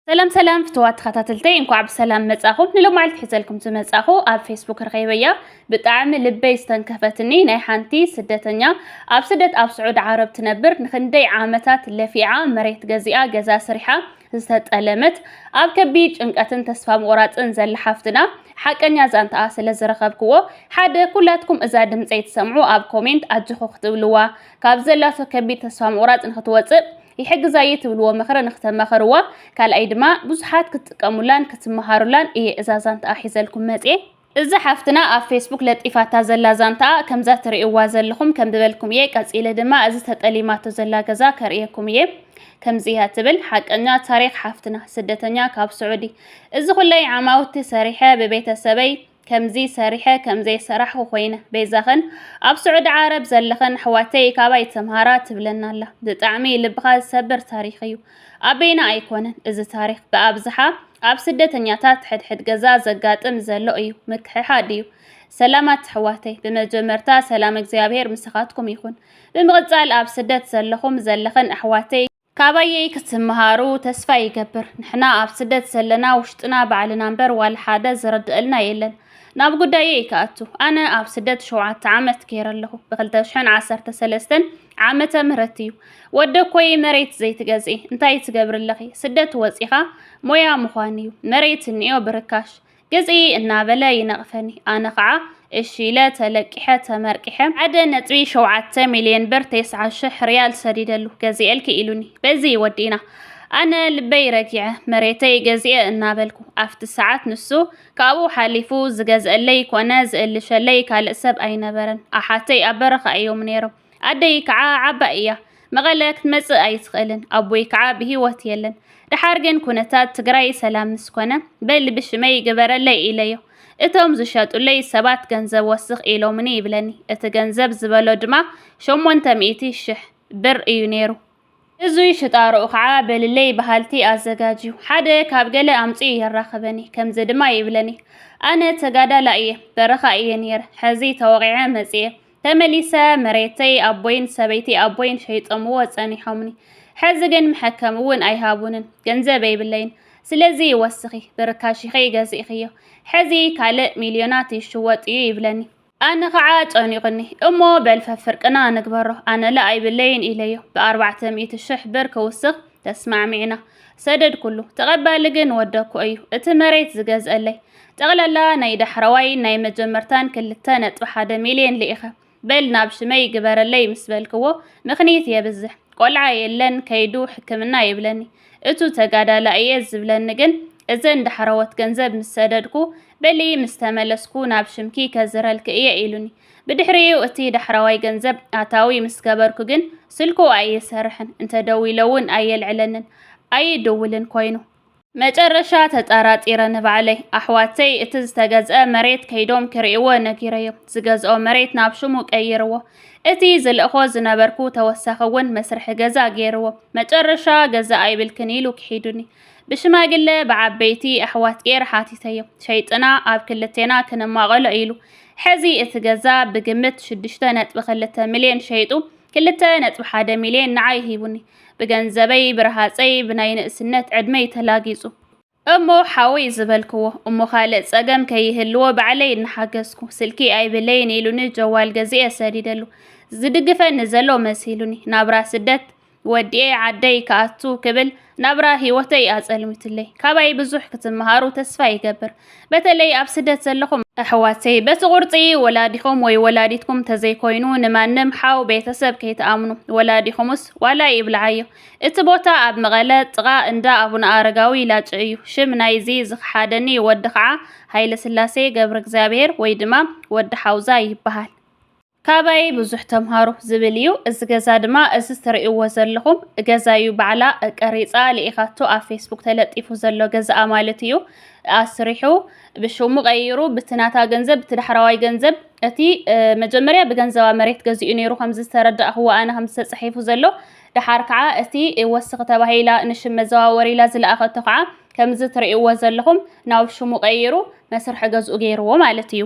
ሰላም ሰላም ፍትዋት ተኸታተልተይ እንኳዕ ብሰላም መጻኹም ንሎማዕልቲ ሒዘልኩም ዝመጻኹ ኣብ ፌስቡክ ረኸይበያ ብጣዕሚ ልበይ ዝተንከፈትኒ ናይ ሓንቲ ስደተኛ ኣብ ስደት ኣብ ስዑድ ዓረብ ትነብር ንክንደይ ዓመታት ለፊዓ መሬት ገዚኣ ገዛ ስሪሓ ዝተጠለመት ኣብ ከቢድ ጭንቀትን ተስፋ ምቑራፅን ዘላ ሓፍትና ሓቀኛ ዛንታኣ ስለ ዝረኸብክዎ ሓደ ኩላትኩም እዛ ድምፀይ ትሰምዑ ኣብ ኮሜንት ኣጆኹ ክትብልዋ ካብ ዘላቶ ከቢድ ተስፋ ምቑራጽ ንክትወጽእ ይሕግዛ እየ ትብልዎ ምኽሪ ንክተማኸርዋ፣ ካልኣይ ድማ ብዙሓት ክትጥቀሙላን ክትመሃሩላን እየ እዛ ዛንታኣ ሒዘልኩም መጽየ። እዛ ሓፍትና ኣብ ፌስቡክ ለጢፋታ ዘላ ዛንታኣ ከምዛ ትርእይዋ ዘለኹም ከም ዝበልኩም እየ፣ ቀጺለ ድማ እዚ ተጠሊማቶ ዘላ ገዛ ከርእየኩም እየ። ከምዚ እያ ትብል፣ ሓቀኛ ታሪኽ ሓፍትና ስደተኛ ካብ ስዑዲ። እዚ ኩለይ ዓማውቲ ሰሪሐ ብቤተሰበይ ከምዚ ሰሪሐ ከምዘይ ሰራሕኩ ኮይነ ቤዛኽን ኣብ ስዑዲ ዓረብ ዘለኽን ኣሕዋተይ ካባይ ተምሃራ ትብለና ኣላ ብጣዕሚ ልብኻ ዝሰብር ታሪኽ እዩ ኣበይና ኣይኮነን እዚ ታሪኽ ብኣብዝሓ ኣብ ስደተኛታት ሕድሕድ ገዛ ዘጋጥም ዘሎ እዩ ምክሕሓድ እዩ ሰላማት ኣሕዋተይ ብመጀመርታ ሰላም እግዚኣብሔር ምሳኻትኩም ይኹን ብምቕጻል ኣብ ስደት ዘለኹም ዘለኽን ኣሕዋተይ ካባየይ ክትምሃሩ ተስፋ ይገብር ንሕና ኣብ ስደት ዘለና ውሽጥና ባዕልና እምበር ዋላ ሓደ ዝረድአልና የለን ናብ ጉዳየይ ክኣቱ ኣነ ኣብ ስደት ሸውዓተ ዓመት ገይረ ኣለኹ ብ213 ዓመተ ምህረት እዩ ወደ ኮይ መሬት ዘይትገዝኢ እንታይ ትገብሪ ኣለኺ ስደት ወፂኻ ሞያ ምዃን እዩ መሬት እኒኦ ብርካሽ ግፂ እናበለ ይነቕፈኒ። ኣነ ከዓ እሺ ኢለ ተለቂሐ ተመርቂሐ ሓደ ነጥቢ ሸውዓተ ሚልዮን ብር ቴስዓ ሽሕ ሪያል ሰዲደሉ ገዚኤልኪ ኢሉኒ በዚ ወዲእና ኣነ ልበይ ረጊዐ መሬተይ ገዚኤ እናበልኩ ኣብቲ ሰዓት ንሱ ካብኡ ሓሊፉ ዝገዝአለይ ኮነ ዝእልሸለይ ካልእ ሰብ ኣይነበረን ኣሓተይ ኣብ በረኻ እዮም ነይሮም ኣደይ ከዓ ዓባይ እያ መቐለ ክትመፅእ ኣይትኽእልን ኣቦይ ከዓ ብሂወት የለን ደሓር ግን ኩነታት ትግራይ ሰላም ምስ ኮነ በል ብሽመይ ግበረለይ ኢለዮ እቶም ዝሸጡለይ ሰባት ገንዘብ ወስኽ ኢሎምኒ ይብለኒ እቲ ገንዘብ ዝበሎ ድማ ሸሞንተ ሚእቲ ሽሕ ብር እዩ ነይሩ እዙይ ሽጣርኡ ከዓ በልለይ በሃልቲ ኣዘጋጅ እዩ። ሓደ ካብ ገለ ኣምፂኡ የራኽበኒ፣ ከምዚ ድማ ይብለኒ፣ ኣነ ተጋዳላይ እየ፣ በረኻ እየ ነይረ፣ ሕዚ ተወቒዐ መፂኤ፣ ተመሊሰ መሬተይ ኣቦይን ሰበይቲ ኣቦይን ሸይጦምዎ ፀኒሖምኒ፣ ሕዚ ግን መሐከሚ እውን ኣይሃቡንን፣ ገንዘብ የብለይን፣ ስለዚ ወስኺ ብርካሽ ኢኺ ገዚእኽዮ፣ ሕዚ ካልእ ሚልዮናት ይሽወጥ እዩ ይብለኒ። ኣነ ኸዓ ጨኒቑኒ እሞ በል ፈፍርቅና ንግበሮ ኣነለ ኣይብለይን ኢለዮ ብኣርባዕተ ሚእቲ ሽሕ ብር ክውስኽ ተስማዕሚዕና ሰደድኩሉ ተቐባሊ ግን ወደኩ እዩ እቲ መሬት ዝገዝአለይ ጠቕላላ ናይ ዳሕረዋይን ናይ መጀመርታን ክልተ ነጥቢ ሓደ ሚልዮን ልኢኸ በል ናብ ሽመይ ግበረለይ ምስ በልክዎ ምኽንይት የብዝሕ ቆልዓ የለን ከይዱ ሕክምና ይብለኒ እቱ ተጋዳላ እየ ዝብለኒ ግን እዘን ዳሕረዎት ገንዘብ ምስ ሰደድኩ በሊ ምስ ተመለስኩ ናብ ሽምኪ ከዝረልኪ እየ ኢሉኒ። ብድሕሪኡ እቲ ዳሕራዋይ ገንዘብ ኣታዊ ምስ ገበርኩ ግን ስልኩ ኣይሰርሕን፣ እንተደዊለ እውን ኣየልዕለንን፣ ኣይድውልን ኮይኑ። መጨረሻ ተጣራጢረ ንባዕለይ ኣሕዋተይ እቲ ዝተገዝአ መሬት ከይዶም ክርእይዎ ነጊረዮም ዝገዝኦ መሬት ናብ ሽሙ ቀይርዎ እቲ ዝልእኾ ዝነበርኩ ተወሳኺ እውን መስርሒ ገዛ ገይርዎ መጨረሻ ገዛ ኣይብልክን ኢሉ ክሒዱኒ ብሽማግለ ብዓበይቲ ኣሕዋት ጌር ሓቲተዮ ሸይጥና ኣብ ክልቴና ክንማቐሎ ኢሉ ሕዚ እቲ ገዛ ብግምት ሽዱሽተ ነጥቢ ክልተ ሚልዮን ሸይጡ ክልተ ነጥቢ ሓደ ሚልዮን ንዓይ ሂቡኒ ብገንዘበይ ብረሃፀይ ብናይ ንእስነት ዕድመይ ተላጊፁ እሞ ሓወይ ዝበልክዎ እሞ ካልእ ፀገም ከይህልዎ ባዕለይ እናሓገዝኩ ስልኪ ኣይብለይን ኢሉኒ ጀዋል ገዚኤ ሰዲደሉ ዝድግፈኒ ዘሎ መሲሉኒ ናብራ ስደት ወዲኤ ዓደይ ክኣቱ ክብል ናብራ ሂወተይ ኣጸልሚትለይ። ካባይ ብዙሕ ክትመሃሩ ተስፋ ይገብር። በተለይ ኣብ ስደት ዘለኹም ኣሕዋተይ በቲ ቁርጺ ወላዲኹም ወይ ወላዲትኩም ተዘይኮይኑ ንማንም ሓው ቤተሰብ ከይትኣምኑ። ወላዲኹምስ ዋላ ይብልዓዮ እቲ ቦታ ኣብ መቐለ ጥቓ እንዳ ኣቡነ ኣረጋዊ ላጭ እዩ። ሽም ናይዚ ዝኸሓደኒ ወዲ ከዓ ሃይለስላሴ ገብረእግዚኣብሄር ወይ ድማ ወዲ ሓውዛ ይበሃል። ካባየይ ብዙሕ ተምሃሩ ዝብል እዩ። እዚ ገዛ ድማ እዚ ትርእይዎ ዘለኹም ገዛ እዩ ባዕላ ቀሪፃ ልኢኻቶ ኣብ ፌስቡክ ተለጢፉ ዘሎ ገዛኣ ማለት እዩ ኣስሪሑ ብሽሙ ቀይሩ ብቲ ናታ ገንዘብ ብቲ ዳሕራዋይ ገንዘብ እቲ መጀመርያ ብገንዘባ መሬት ገዚኡ ነይሩ ከምዚ ዝተረዳእኽዎ ኣነ ከም ዝተጻሒፉ ዘሎ ደሓር ከዓ እቲ ወስኺ ተባሂላ ንሽም መዘዋወሪ ኢላ ዝለኣኸቶ ከዓ ከምዚ ትርእይዎ ዘለኹም ናብ ሽሙ ቀይሩ መስርሒ ገዝኡ ገይርዎ ማለት እዩ።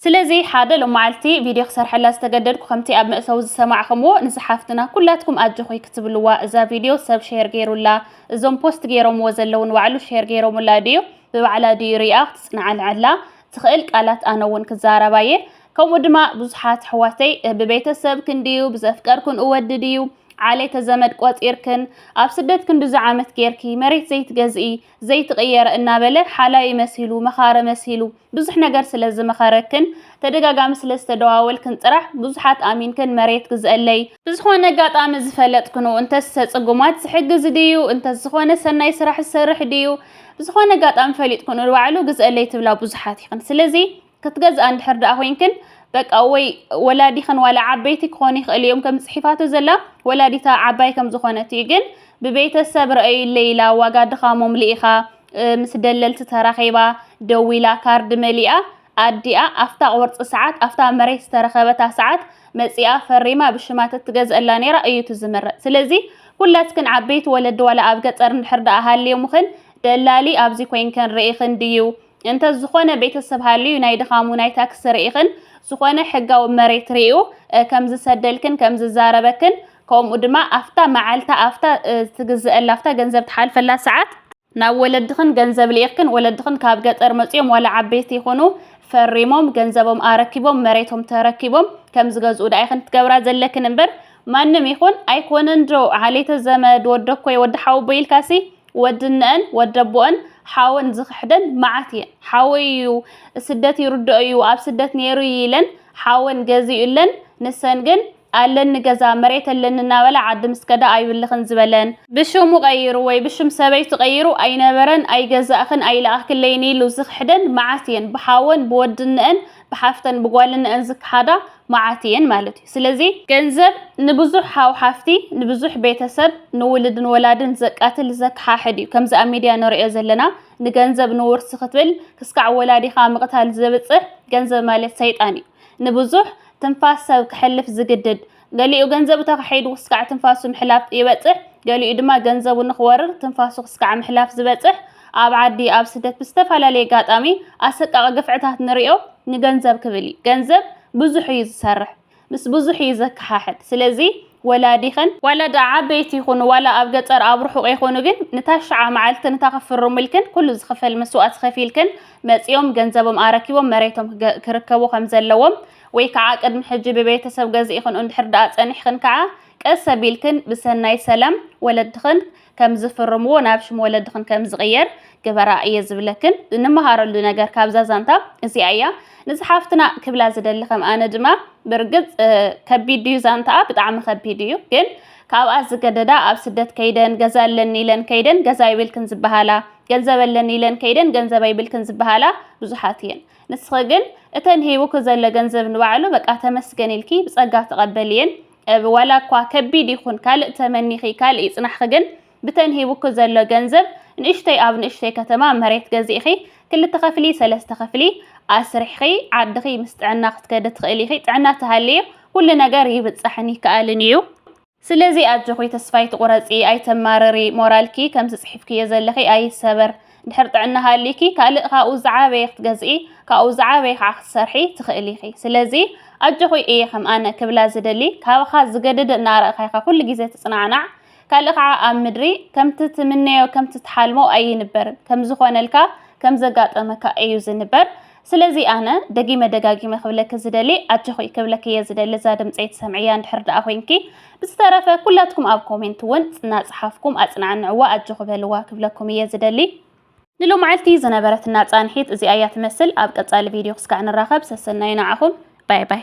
ስለዚ ሓደ ሎማዕልቲ ቪድዮ ክሰርሐላ ዝተገደድኩ ከምቲ ኣብ መእተዊ ዝሰማዕኽምዎ ንዛ ሓፍትና ኩላትኩም ኣጆኺ ክትብልዋ እዛ ቪድዮ ሰብ ሼር ጌሩላ እዞም ፖስት ጌሮምዎ ዘለዉ ንባዕሉ ሼር ጌሮሙላ ድዩ ብባዕላ ድዩ ሪኣ ክትጽናዓንዓላ ትኽእል ቃላት ኣነ ውን ክዛረባ እየ ከምኡ ድማ ብዙሓት ኣሕዋተይ ብቤተሰብ ክንድዩ ብዘፍቀርኩን እወዲ ድዩ ዓሌተ ዘመድ ቆጺርክን ኣብ ስደት ክንድዚ ዓመት ጌርኪ መሬት ዘይትገዝኢ ዘይትቕየረ እናበለ ሓላዪ መሲሉ፣ መኻሪ መሲሉ፣ ብዙሕ ነገር ስለ ዝመኸረክን፣ ተደጋጋሚ ስለ ዝተደዋወልክን ጥራሕ፣ ብዙሓት ኣሚንክን መሬት ግዝእለይ፣ ብዝኾነ ኣጋጣሚ ዝፈለጥክንኡ፣ እንተስ ሰጽጉማት ዝሕግዝ ድዩ፣ እንተስ ዝኾነ ሰናይ ስራሕ ዝሰርሕ ድዩ፣ ብዝኾነ ኣጋጣሚ ፈሊጥክንኡ ንባዕሉ ግዝእለይ ትብላ ብዙሓት ኢኽን። ስለዚ። ክትገዝኣ እንድሕር ደኣ ኮይንክን በቃ ወይ ወላዲኽን ዋላ ዓበይቲ ክኾኑ ይኽእሉ እዮም ከም ጽሒፋቶ ዘላ ወላዲታ ዓባይ ከም ዝኾነት እዩ ግን ብቤተሰብ ረኣዩለይ ኢላ ዋጋ ድኻሞም ልኢኻ ምስ ደለልቲ ተራኺባ ደዊላ ካርድ መሊኣ ኣዲኣ ኣፍታ ቁርፂ ሰዓት ኣፍታ መሬት ዝተረኸበታ ሰዓት መፂኣ ፈሪማ ብሽማ ተትገዝአላ ነይራ እዩ እቲ ዝምረፅ ስለዚ ኩላትክን ዓበይቲ ወለዲ ዋላ ኣብ ገፀር እንድሕር ደኣ ሃልዮምኽን ደላሊ ኣብዚ ኮይንክን ርኢኽን ድዩ እንተ ዝኾነ ቤተሰብ ሃልዩ ናይ ድኻሙ ናይ ታክሲ ርኢኽን ዝኾነ ሕጋዊ መሬት ርኡ ከም ዝሰደልክን ከም ዝዛረበክን ከምኡ ድማ ኣፍታ መዓልታ ኣፍታ ትግዝእላ ኣፍታ ገንዘብ ትሓልፈላ ሰዓት ናብ ወለድኽን ገንዘብ ልኢኽክን ወለድኽን ካብ ገጠር መጽኦም ዋላ ዓበይቲ ይኹኑ ፈሪሞም ገንዘቦም ኣረኪቦም መሬቶም ተረኪቦም ከም ዝገዝኡ ደኣ ኢኽን ትገብራ ዘለክን እምበር ማንም ይኹን ኣይኮነን ዶ ዓሌተ ዘመድ ወደኮይ ወዲ ሓውቦይ ኢልካሲ ወዲ እነኣን ወዲ ኣቦኣን ሓወን ዝኽሕደን መዓት እየን። ሓወይ እዩ ስደት ይርድኦ እዩ ኣብ ስደት ነይሩ እዩ ኢለን ሓወን ገዚኡለን ንሰን ግን ኣለኒ ገዛ መሬት ኣለኒ እናበላ ዓዲ ምስ ከዳ ኣይብልኽን ዝበለን፣ ብሽሙ ቀይሩ ወይ ብሽም ሰበይቱ ቀይሩ ኣይነበረን ኣይገዛእኽን ኣይለኣኽክለይን ኢሉ ዝኽሕደን መዓት እየን። ብሓወን ብወዲ እነኣን ብሓፍተን ብጓልነን ዝከሓዳ መዓት እየን ማለት እዩ። ስለዚ ገንዘብ ንብዙሕ ሓው ሓፍቲ፣ ንብዙሕ ቤተሰብ፣ ንውልድን ወላድን ዘቃትል ዘከሓሕድ እዩ። ከምዚ ኣብ ሚድያ ንርእዮ ዘለና ንገንዘብ ንውርሲ ክትብል ክስካዕ ወላዲኻ ምቕታል ዘብጽሕ ገንዘብ ማለት ሰይጣን እዩ። ንብዙሕ ትንፋስ ሰብ ከሕልፍ ዝግድድ ገሊኡ ገንዘቡ ተኻሒዱ ክስካዕ ትንፋሱ ምሕላፍ ይበጽሕ፣ ገሊኡ ድማ ገንዘቡ ንኽወርር ትንፋሱ ክስካዕ ምሕላፍ ዝበጽሕ ኣብ ዓዲ ኣብ ስደት ብዝተፈላለየ ኣጋጣሚ ኣሰቃቒ ግፍዕታት ንሪኦ ንገንዘብ ክብል እዩ ገንዘብ ብዙሕ እዩ ዝሰርሕ ምስ ብዙሕ እዩ ዘከሓሕድ ስለዚ ወላዲኽን ዋላ ድኣ ዓበይቲ ይኹኑ ዋላ ኣብ ገጠር ኣብ ርሑቕ ይኹኑ ግን ንታሽዓ መዓልትን እታ ክፍርሙልክን ኩሉ ዝኽፈል መስዋእቲ ከፊልክን መጺኦም ገንዘቦም ኣረኪቦም መሬቶም ክርከቡ ከምዘለዎም ወይ ከዓ ቅድሚ ሕጂ ብቤተሰብ ገዚእኽን እንድሕር ደኣ ጸኒሕኽን ከዓ ቀስ ኣቢልክን ብሰናይ ሰላም ወለድኽን ከም ዝፍርምዎ ናብ ሽም ወለድኽን ከም ዝቕየር ግበራ እየ ዝብለክን እንመሃረሉ ነገር ካብዛ ዛንታ እዚኣ እያ ንዝሓፍትና ክብላ ዝደሊ ከም ኣነ ድማ ብርግጽ ከቢድ እዩ ዛንታኣ ብጣዕሚ ከቢድ እዩ ግን ካብኣ ዝገደዳ ኣብ ስደት ከይደን ገዛ ኣለኒ ኢለን ከይደን ገዛ ይብልክን ዝበሃላ ገንዘብ ኣለኒ ኢለን ከይደን ገንዘብ ኣይብልክን ዝበሃላ ብዙሓት እየን ንስኺ ግን እተን ሂቡኪ ዘሎ ገንዘብ ንባዕሉ በቃ ተመስገን ኢልኪ ብጸጋ ተቐበልየን። እብ ዋላ እኳ ከቢድ ይኹን ካልእ ተመኒኺ ካልእ ይጽናሕኺ ግን ብተን ሂቡኪ ዘሎ ገንዘብ ንእሽተይ ኣብ ንእሽተይ ከተማ መሬት ገዚእኺ ክልተ ክፍሊ ሰለስተ ክፍሊ ኣስሪሕኺ ዓድኺ ምስ ጥዕና ክትከዲ ትኽእሊ ኢኺ ጥዕና ተሃልዩ ኩሉ ነገር ይብጻሕን ይከኣልን ኢዩ። ስለዚ ኣጆኺ ተስፋ ኣይትቑረጺ ኣይተማርሪ ሞራልኪ ከምዚ ጽሒፍክዮ ዘለኺ ኣይሰበር ድሕር ጥዕና ሃልይኪ ካልእ ካብኡ ዝዓበየ ክትገዝኢ ካብኡ ዝዓበየ ከዓ ክትሰርሒ ትኽእሊ ኢኺ ስለዚ ኣጆኺ እየ ከም ኣነ ክብላ ዝደሊ ካባኻ ዝገደደ እናረእኻ ኢኻ ኩሉ ግዜ ትጽናዕናዕ ካልእ ከዓ ኣብ ምድሪ ከምቲ ትምነዮ ከምቲ ትሓልሞ ኣይንበርን ከምዝኾነልካ ከምዘጋጠመካ እዩ ዝንበር ስለዚ ኣነ ደጊመ ደጋጊመ ክብለኪ ዝደሊ ኣጆኺ ክብለኪ እየ ዝደሊ እዛ ድምፀይ ትሰምዕያ እንድሕር ደኣ ኮይንኪ ብዝተረፈ ኩላትኩም ኣብ ኮሜንት እውን እናፀሓፍኩም ኣፅናዕንዕዋ ኣጆኺ በልዋ ክብለኩም እየ ዝደሊ ንሎማዕልቲ ዝነበረትና ፃንሒት እዚኣ እያ ትመስል ኣብ ቀፃሊ ቪድዮ ክስካዕ ንራኸብ ሰሰናዩ ንዓኹም ባይ ባይ።